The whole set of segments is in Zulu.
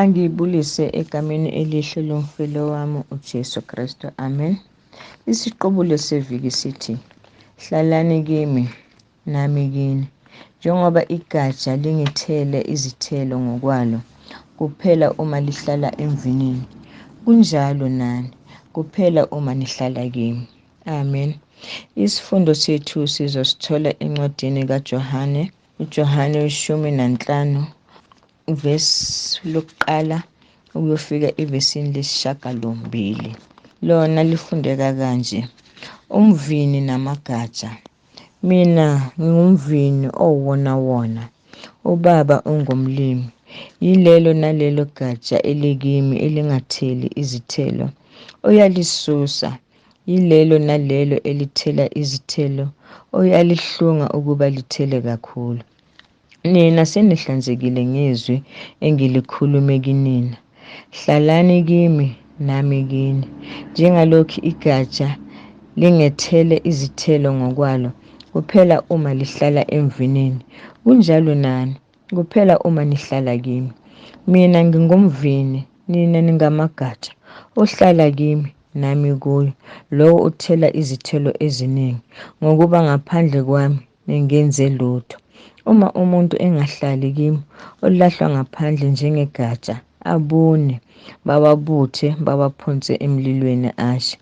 Angibulise egameni elihle lomfelo wami uJesu Kristu. Amen. Isiqubulo seviki sithi, Hlalani kimi, nami kini. Njengoba igatsha lingithele izithelo ngokwalo, kuphela uma lihlala emvinini, kunjalo nani, kuphela uma nihlala kimi. Amen. Isifundo sethu sizosithola encwadini kaJohane, uJohane ishumi nanhlanu uvesi lokuqala ukuyofika evesini lesishagalombili lona lifundeka kanje umvini namagatsha mina ngingumvini owona wona ubaba ungumlimi yilelo nalelo gatsha elikimi elingatheli izithelo uyalisusa yilelo nalelo elithela izithelo oyalihlunga ukuba lithele kakhulu Nina senihlanzekile ngezwi engilikhulume kinina. Hlalani kimi, nami kini. Njengalokhu igatsha lingethele izithelo ngokwalo, kuphela uma lihlala emvinini, kunjalo nani, kuphela uma nihlala kimi. Mina ngingumvini, nina ningamagatsha. Ohlala kimi, nami kuyo, lowo uthela izithelo eziningi, ngokuba ngaphandle kwami nengenze lutho. Uma umuntu engahlali kimi, ulahlwa ngaphandle njengegatsha, abune, bawabuthe, bawaphonse emlilweni ashe.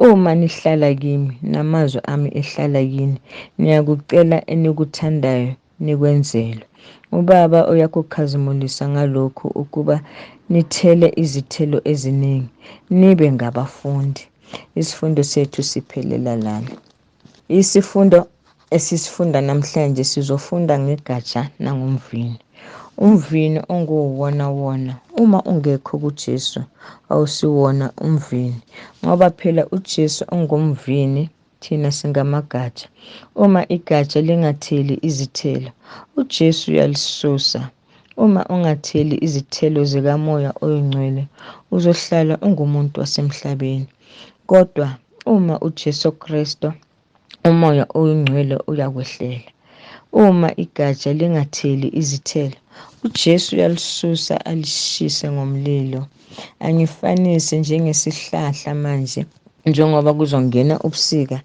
Uma nihlala kimi, namazwi ami ehlala kini, niyakucela enikuthandayo nikwenzelwe. UBaba uyakukhazimulisa ngalokhu ukuba nithele izithelo eziningi, nibe ngabafundi. Isifundo sethu siphelela lana. Isifundo esisifunda namhlanje sizofunda ngegatsha nangomvini. Umvini onguwona wona uma ungekho kuJesu awusiwona umvini ngoba phela uJesu ungumvini thina singamagatsha. Uma igatsha lingatheli izithelo uJesu uyalisusa. Uma ungatheli izithelo zikamoya oyingcwele, uzohlala ungumuntu wasemhlabeni. Kodwa uma uJesu Kristu, umoya oyingcwele uyakwehlela. Uma igatsha lingatheli izithelo, uJesu uyalisusa alishise ngomlilo. angifanise njengesihlahla manje njengoba kuzongena ubusika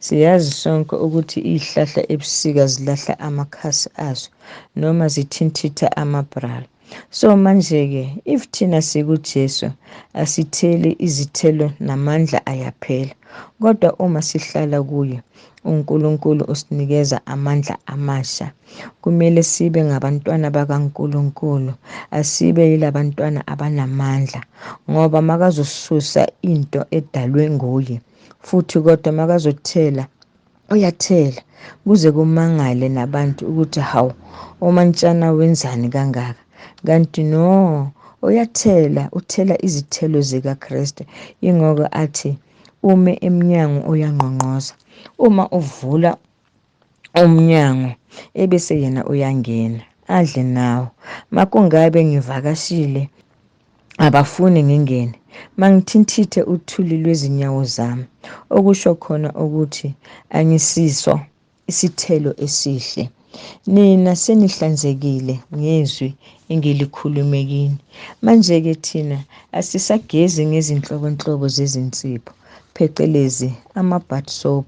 siyazi sonke ukuthi izihlahla ebusika zilahla amakhasi azo noma zithintitha amabrala so manje-ke if thina sikujesu asitheli izithelo namandla ayaphela kodwa uma sihlala kuye unkulunkulu usinikeza amandla amasha Kumele sibe ngabantwana bakaNkulunkulu, asibe yilabantwana abanamandla ngoba makazosusa into edalwe nguye futhi kodwa makazothela uyathela kuze kumangale nabantu ukuthi hawu omantshana wenzani kangaka kanti no uyathela uthela izithelo zikaKristu ingoko athi ume emnyango uyangqongqoza uma uvula umnyango ebese yena uyangena adle nawo makungabe ngivakashile abafuni ngingene mangithintithe uthuli lwezinyawo zami okusho khona ukuthi angisiso isithelo esihle nina senihlanzekile ngezwi engilikhulume kini manje-ke thina asisagezi ngezinhlobonhlobo zezinsipho phecelezi ama-bat soap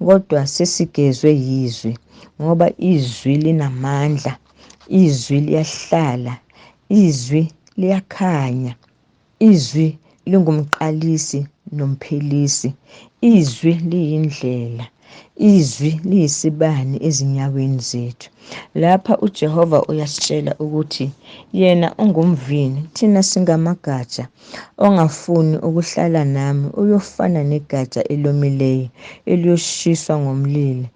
kodwa sesigezwe yizwi ngoba izwi linamandla izwi liyahlala izwi liyakhanya izwi lingumqalisi nomphelisi izwi liyindlela Izwi liyisibani ezinyaweni zethu. Lapha uJehova uyasitshela ukuthi yena ungumvini, thina singamagatsha. Ongafuni ukuhlala nami uyofana negatsha elomileyo eliyoshiswa ngomlilo,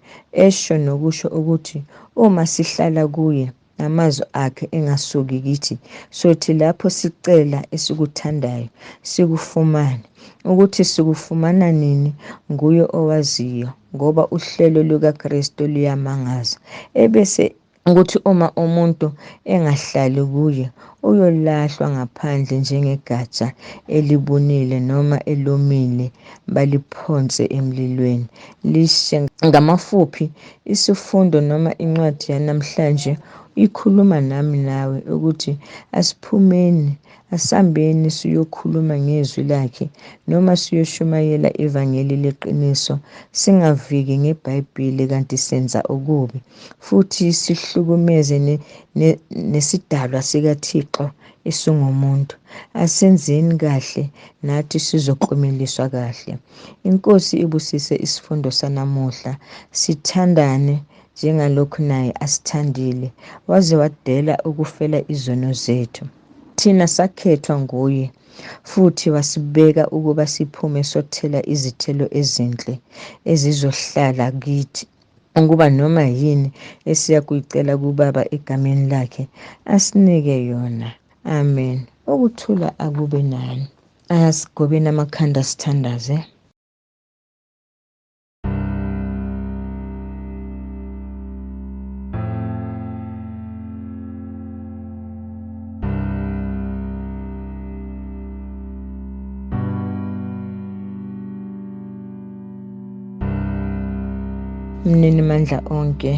esho nokusho ukuthi uma sihlala kuye namazwi akhe engasuki kithi sothi lapho sicela esikuthandayo sikufumane ukuthi sikufumana nini nguye owaziyo ngoba uhlelo lukaKristu luyamangaza ebese ukuthi uma umuntu engahlali kuye uyolahlwa ngaphandle njengegatsha elibunile noma elomile baliphonse emlilweni lishe. Ngamafuphi, isifundo noma incwadi yanamhlanje ikhuluma nami nawe ukuthi asiphumeni asambeni siyokhuluma ngezwi lakhe noma siyoshumayela ivangeli leqiniso singaviki ngebhayibhile kanti senza okubi futhi sihlukumeze nesidalwa sikathixo esingumuntu asenzeni kahle nathi sizoklumeliswa kahle inkosi ibusise isifundo sanamuhla sithandane njengalokhu naye asithandile waze wadela ukufela izono zethu thina sakhethwa nguye futhi wasibeka ukuba siphume sothela izithelo ezinhle ezizohlala kithi ukuba noma yini esiya kuyicela kubaba egameni lakhe asinike yona amen ukuthula akube nani asigobeni amakhanda sithandaze mnini mandla onke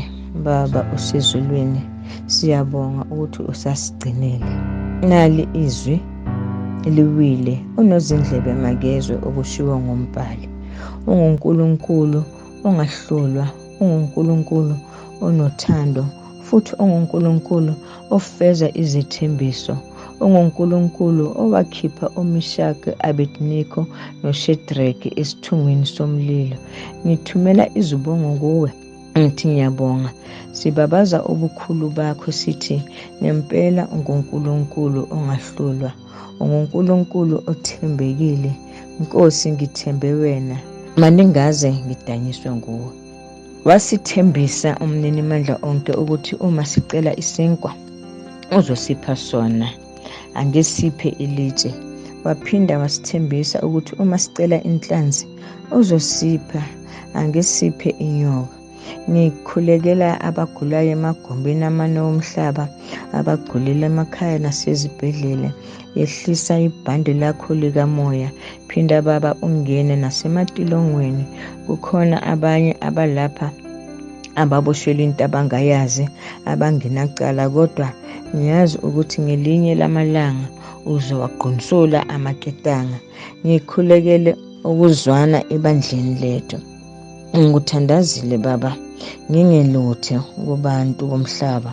baba usezulwini siyabonga ukuthi usasigcinile nali izwi liwile unozindlebe makezwe okushiwo ngombhali ungunkulunkulu ongahlulwa ungunkulunkulu onothando futhi ungunkulunkulu ofeza izethembiso, onguNkulunkulu owakhipha uMishaki, Abednego noShedrake esithungwini somlilo. Ngithumela izibongo kuwe ngithi ngiyabonga sibabaza ubukhulu bakho sithi ngempela unguNkulunkulu ongahlulwa unguNkulunkulu othembekile Nkosi ngithembe wena maningaze ngidanyiswe nguwe Wasithembisa umninimandla onke ukuthi uma sicela isinkwa uzosipha sona, angesiphe ilitshe. Waphinda wasithembisa ukuthi uma sicela inhlanzi uzosipha, angesiphe inyoka. Ngikhulekela abagulayo emagumbini amane womhlaba, abagulela emakhaya nasezibhedlela. yehlisa ibhande lakho likamoya phinda baba ungene nasematilongweni kukhona abanye abalapha ababoshelwe into abangayazi abangenacala kodwa ngiyazi ukuthi ngelinye lamalanga uzowagqunsula amaketanga ngikhulekele ukuzwana ebandleni lethu ngikuthandazile baba ngingeluthe kubantu bomhlaba